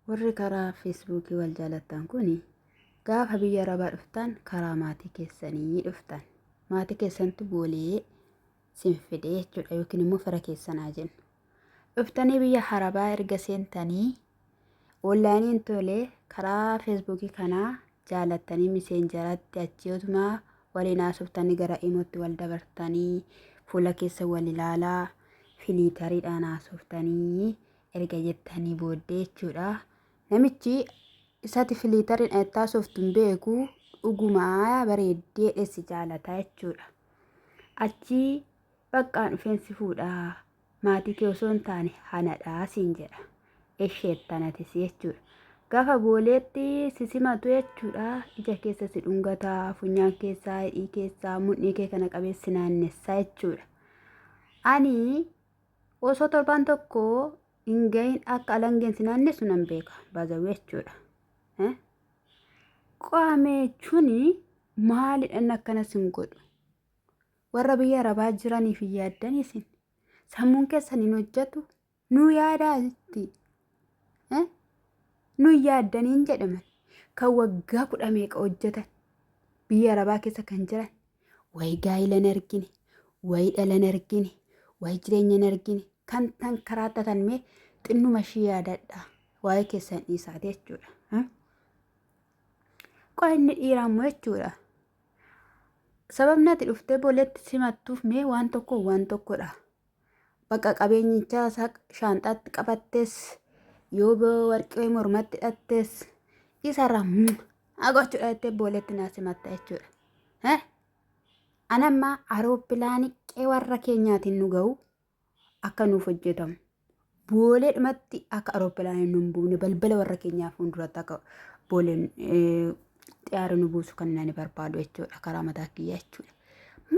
Warri karaa feesbuukii wal jaalattan kun gaafa biyya arabaa dhuftan karaa maatii keessanii dhuftan. Maatii keessantu boolee sin fide jechuudha yookiin immoo fira keessanaa jennu. Dhuftanii biyya arabaa erga seentanii onlaayiniin tole karaa feesbuukii kanaa jaalattanii miseenjaratti achii otumaa waliin haasoftan gara imootti wal dabartanii fuula keessa wal ilaalaa filiitariidhaan haasoftanii erga jettanii booddee jechuudha. Namichi isati filiitariin ayattaa sooftuun beeku dhugumaa bareeddee dheessi jaalataa jechuudha. Achii baqqaan dhufeen si fuudha maatii kee osoo hin taane hanadhaa siin jedha. Esheet tanatis jechuudha. Gaafa booleetti si simatu jechuudha. Ija keessa si dhungata, funyaan keessaa, hidhii keessaa, mudhii kee kana qabeessi naannessaa jechuudha. Ani Osoo torbaan tokko hin gahin akka alangeen si naannessu nan beeka. Baazawwee jechuudha. Eh? Qaamee jechuun maalidhaan akkana sin godhu? Warra biyya arabaa jiraniif hin yaaddan isin. Sammuun keessan hin hojjetu. Nu yaadaa jetti. Eh? Nu hin yaaddaniin jedhaman. Kan waggaa kudha meeqa hojjetan. Biyya arabaa keessa kan jiran. Wayi gaa'ila hin argine, wayi dhala hin argine, wayi jireenya hin argine kan tan karaattatan mee xinnuma ishii yaadadha. Waa'ee keessan dhiisaati jechuudha. Hmm? Qo'a inni dhiiraa immoo jechuudha. Sababni ati dhuftee booleetti simattuuf mee waan tokko waan tokkodha. Bakka qabeenyichaa isaa shaanxaatti qabattes yoo ba- warqii wayii mormatti hidhattes isarraa haa gochuudha jettee booleetti naa simatta jechuudha. Eh? An amma aroopilaanii qe'ee warra keenyaatiin nu ga'u akka nuuf hojjetamu Booleedhumatti akka arooppilaanii nu hin buufne balbala warra keenyaa fuulduratti akka booleen eh, xiyyaara nu buusu kan nani barbaadu jechuudha karaa mataa kiyyaa jechuudha.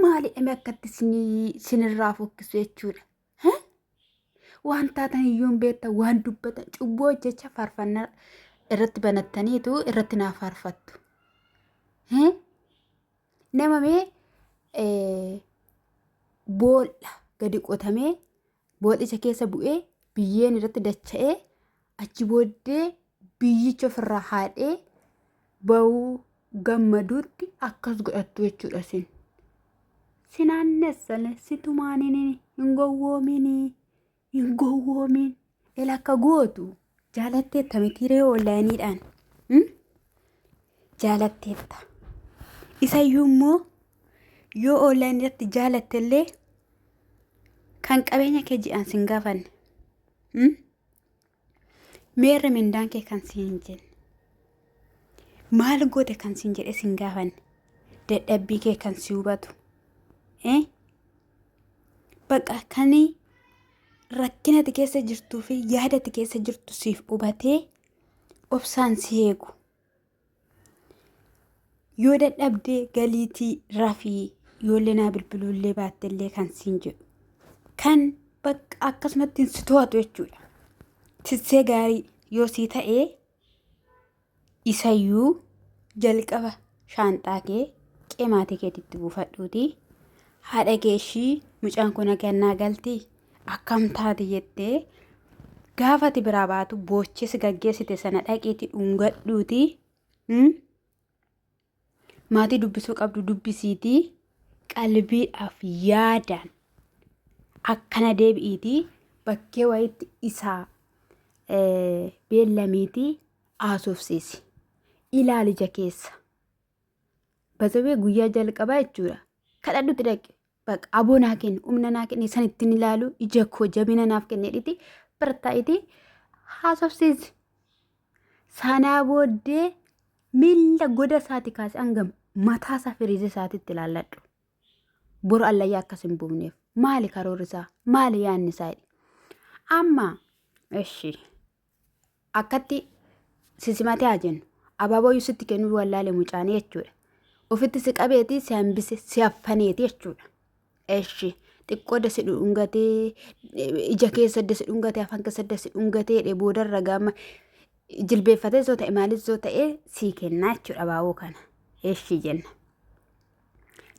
Maali dhame akkatti isinii- isinirraa fokkisu jechuudha. Hä? Waan taatan iyyuu hin beektan waan dubbatan cubbuu hojjecha faarfannaa irratti banattaniitu irratti naa faarfattu. Hä? Nama mee eh, boolla gadi qotamee Booxicha keessa bu'ee biyyeen irratti dacha'ee achi booddee biyyicha ofirraa haadhee ba'uu gammaduutti akkas godhattu jechuudha sin. Sinaannessale situmaanini hin gowwoominii hin gowwoomin ela akka gootu Jaalatteetta mitiiree oonlaayiniidhaan jaalatteetta. Isayyuu immoo yoo oonlaayinii irratti jaalatte illee kan qabeenya kee ji'aan sin gaafanne. Meerre mindaan kee kan siin hin jenne. Maal goote kan siin jedhe sin gaafanne. Dadhabbii kee kan si hubatu. baqa kan rakkina ati keessa jirtuu fi yaada ati keessa jirtu siif hubatee obsaan si eegu. Yoo dadhabdee galiitii rafii yoollee naa bilbiluullee baattellee kan siin jedhu. Kan bakka akkasumatti si to'atu jechuudha. Tissee gaarii yoo sii ta'ee Isayyuu jalqaba shaanxaa kee qee maatii keetitti buufadhuutii haadha kee ishii mucaan kun agannaa galti akkam taati jettee gaafa ati biraa baatu boochee si gaggeessite sana dhaqiitii dhungadhuutii mm, Maatii dubbisuu qabdu dubbisiitii qalbiidhaaf yaadaan akkana deebi'iitii bakkee wayitti isaa eh, beellamiitii haasofsiisi. Ilaali ija keessa. Basawee guyyaa jalqabaa jechuudha. Kadhadhutti dhaqi. Bak aboo naa kenne humna naa kenne san ittiin ilaalu ija koo jabina naaf kenne dhiti bartaa'iti haasofsiisi. Sanaa booddee miila goda isaati kaase hanga mataa isaa firiizi isaatitti ilaalladhu. Boru allayyaa akkas hin buufneef. Maali karoorri isaa? Maali yaanni isaa? Amma, eshi. akkatti si simatee haa jennu abaaboyyuu sitti kennuu wallaale mucaanii jechuudha ofitti si qabeeti si hambise si haffaneeti jechuudha eshi xiqqoo dasi dhungatee ija keessa dasi dhungatee afaan keessa dasi dhungatee dhe boodarra gaama jilbeeffatee soo ta'e maalis soo ta'e sii kennaa jechuudha abaaboo kana eshi jenna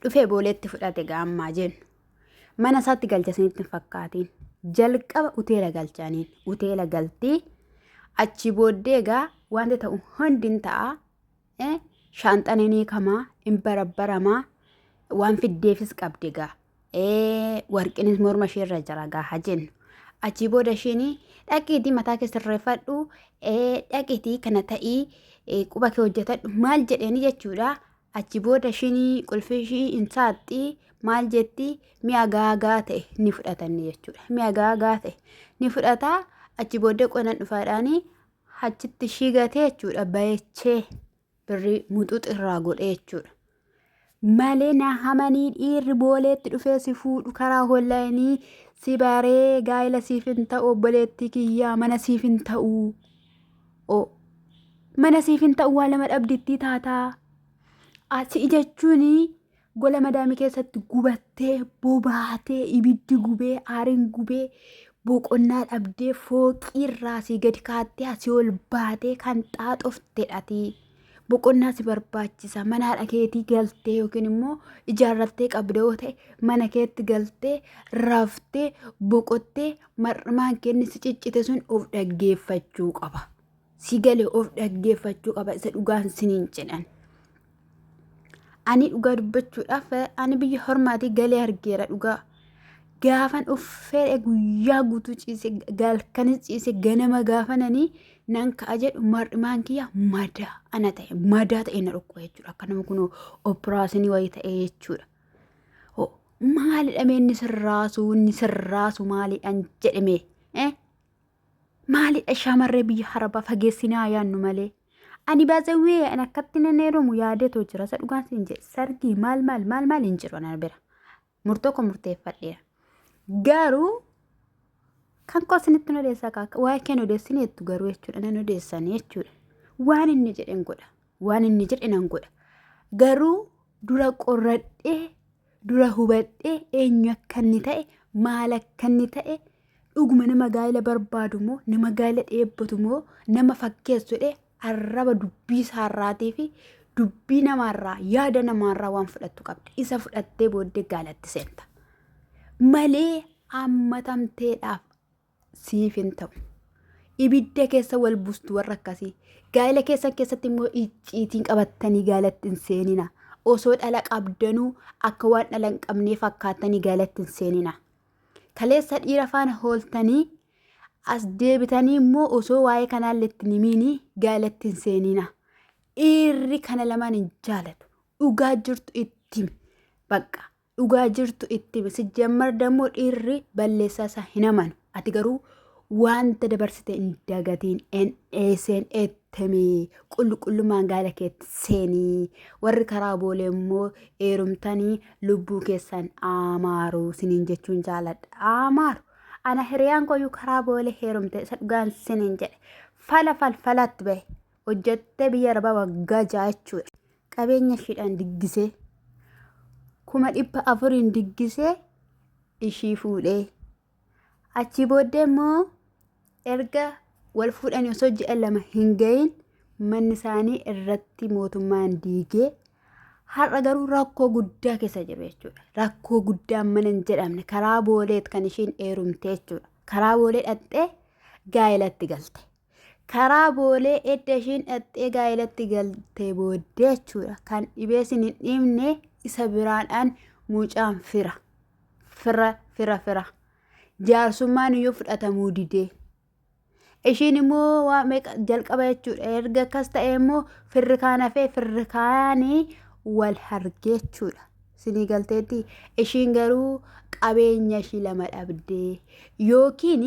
dhufee booleetti fudhate gaammaa jennu mana isaatti galcha isinitti hin fakkaatiin jalqaba uteela galchaniin uteela galtii achi booddee egaa wanti ta'u hundi hin ta'a eh, shaanxan hin hiikamaa hin barabbaramaa waan fiddeefis qabdi egaa eh, warqinis morma ishee irra jira egaa haa jennu achi booda ishiin dhaqiitii mataa kee sirreeffadhu eh, dhaqiitii kana ta'ii eh, quba kee hojjetadhu maal jedheeni jechuudha Achi booda ishiin qulfii ishii hin saaqxi maal jetti mi'a gaagaa ta'e ni fudhatanne jechuudha. Mi'a gaagaa ta'e ni fudhata achi booddee qonan dhufaadhaani achitti ishii gatee jechuudha bayechee birrii muxuxi irraa godhee jechuudha. Malee na hamanii dhiirri booleetti dhufee si fuudhu karaa hollaayinii si baree gaa'ila siif hin ta'u obboleettii kiyyaa mana siif hin ta'u. o mana siif hin ta'u waa lama dhabdittii taataa asi jechuun gola madaamii keessatti gubattee bobaatee ibiddi gubee aariin gubee boqonnaa dhabdee fooqiirraa asii gadi kaattee asii ol baatee kan xaaxofte dhatii. boqonnaa si barbaachisa manaadha keetii galtee yookiin immoo ijaarrattee qabda yoo ta'e mana keetti galtee raftee boqottee mar'maan kenni si ciccite sun of dhaggeeffachuu qaba si gale of dhaggeeffachuu qaba isa dhugaan siniin jedhan ani dhugaa dubbachuudhaaf ani biyya hormaatii galee argeera dhugaa gaafan of fedhe guyyaa guutuu ciise galkanis ciise ganama gaafananii nan ka'a jedhu mar'imaan kiyya madaa ana ta'e madaa ta'e na dhukkuba jechuudha akka nama kun operaashinii wayii ta'e jechuudha. Ho, Maalidha mee inni sirraasu inni sirraasu maalidhaan jedhame eh? maalidha shamarree biyya harabaa fageessinaa yaannu malee. Ani baasawwee an akkatti nan heerumu yaadeetoo jira isa dhugaan siin jedhe sargii maal maal maal maal hin jiru ana bira. murtoo koo murteeffadheera. Garuu kan koo isinitti hin odeessaa kaakka waa'ee kee hin odeessin jettu garuu jechuudha nan odeessan jechuudha. Waan inni jedhe hin godha. Waan inni jedhe nan godha. Garuu dura qorradhee dura hubadhee eenyu akka inni ta'e maal akka inni ta'e Dhuguma nama gaa'ila barbaadu moo nama gaa'ila dheebbatu moo nama fakkeessu jedhee arraba dubbii isaarraatii fi dubbii namaarraa yaada namaarraa waan fudhattu qabda. Isa fudhattee booddee gaalatti seenta. Malee hammatamteedhaaf siif hin ta'u. Ibidda keessa wal buustu warra akkasii. Gaa'ila keessan keessatti immoo icciitiin qabattanii gaalatti hin seenina. Osoo dhala qabdanuu akka waan dhala hin qabnee fakkaattanii gaalatti hin seenina. Kaleessa dhiira faana hooltanii as deebitanii immoo osoo waa'ee kanaallee itti hin himiini gaalatti hin seeniina. Dhiirri kana lamaan hin jaalatu. Dhugaa jirtu itti himi. Bakka dhugaa jirtu itti himi. Sijjammar dammoo dhiirri balleessaa isaa hin amanu. Ati garuu wanta dabarsite hin dagatiin NSNA temii qulqullummaan gaala keetti seenii warri karaa boolee immoo eerumtanii lubbuu keessan aamaaru siniin jechuun jaaladha aamaaru ana hiriyaan koyyuu karaa boolee heerumte isa dhugaan siniin jedhe fala falfalatti bahe hojjettee biyya arabaa waggaa ja'a jechuudha qabeenya ishiidhaan diggisee kuma dhibba afuriin diggisee ishii fuudhee Achii booddee immoo erga wal fuudhanii osoo ji'a lama hin gahin manni isaanii irratti mootummaan diigee har'a garuu rakkoo guddaa keessa jiru jechuudha. Rakkoo guddaa mana hin jedhamne karaa booleet kan ishiin eerumte jechuudha. Karaa boolee dhaqxee gaa'elatti galte. Karaa boolee edda ishiin dhaxxee gaa'elatti galtee booddee jechuudha. Kan dhibee sin hin dhiibne isa biraadhaan mucaan fira. Fira fira fira. Jaarsummaan iyyuu fudhatamuu didee. Ishiin immoo waa meeqa jalqaba jechuudha. Erga akkas ta'e immoo firri kaan hafee firri kaanii wal hargee jechuudha. Sinii galteetti ishiin garuu qabeenya ishii lama dhabdee yookiin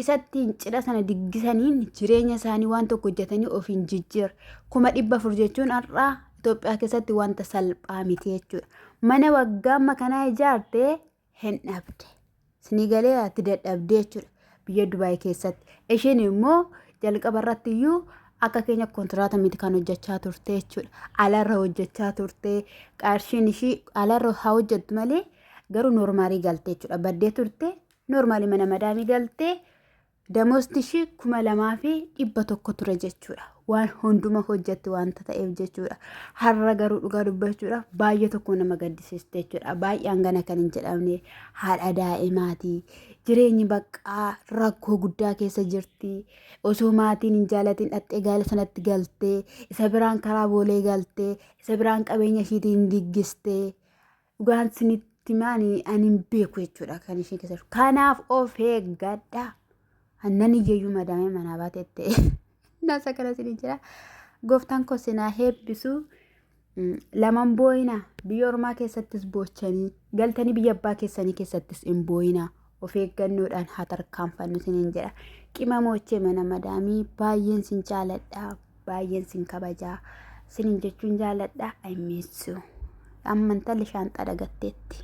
isattiin cidha sana diggisaniin jireenya isaanii waan tokko hojjetanii ofiin jijjiir kuma dhibba afur jechuun har'aa Itoophiyaa keessatti wanta salphaa miti jechuudha. Mana waggaa amma kanaa ijaartee hin dhabde. Sinii galee ati dadhabdee jechuudha biyya Dubaay keessatti. Isheen immoo jalqaba irratti iyyuu akka keenya kontiraata miti kan hojjechaa turte jechuudha. Alarra hojjechaa turte qarshiin ishii alarra haa hojjettu malee garuu noormaalii galte jechuudha. Baddee turte Noormaali mana madaamii galtee damoosni ishii kuma lamaa fi dhibba tokko ture jechuudha. Waan hunduma hojjetti waanta ta'eef jechuudha. Har'a garuu dhugaa dubbachuudhaaf baay'ee tokko nama gaddisiiste jechuudha. Baay'een gana kan hin jedhamne haadha daa'imaati. Jireenyi baqqaa rakkoo guddaa keessa jirti. Osoo maatiin hin jaalatin dhaxxee gaala sanatti galtee isa biraan karaa boolee galtee isa biraan qabeenya ishiitiin giggistee. Dhugaan sinitti maani ani hin beeku jechuudha kan isheen keessa jirtu. Kanaaf of eeggadha. Annan iyyayyuu madaamee manaa baatee ta'e. Nasa kana isin jira. Gooftaan koo sinaa heebbisu. Mm, Laman booyina biyya ormaa keessattis boochanii galtanii biyya abbaa keessanii keessattis hin booyina of eeggannoodhaan haa tarkaanfannu isiniin jedha. Qimamochee mana madaamii baay'een sin jaaladha. baay'een sin kabajaa sinin jechuun jaaladha I miss you. Amma intalli shaanxaa dhagatteetti.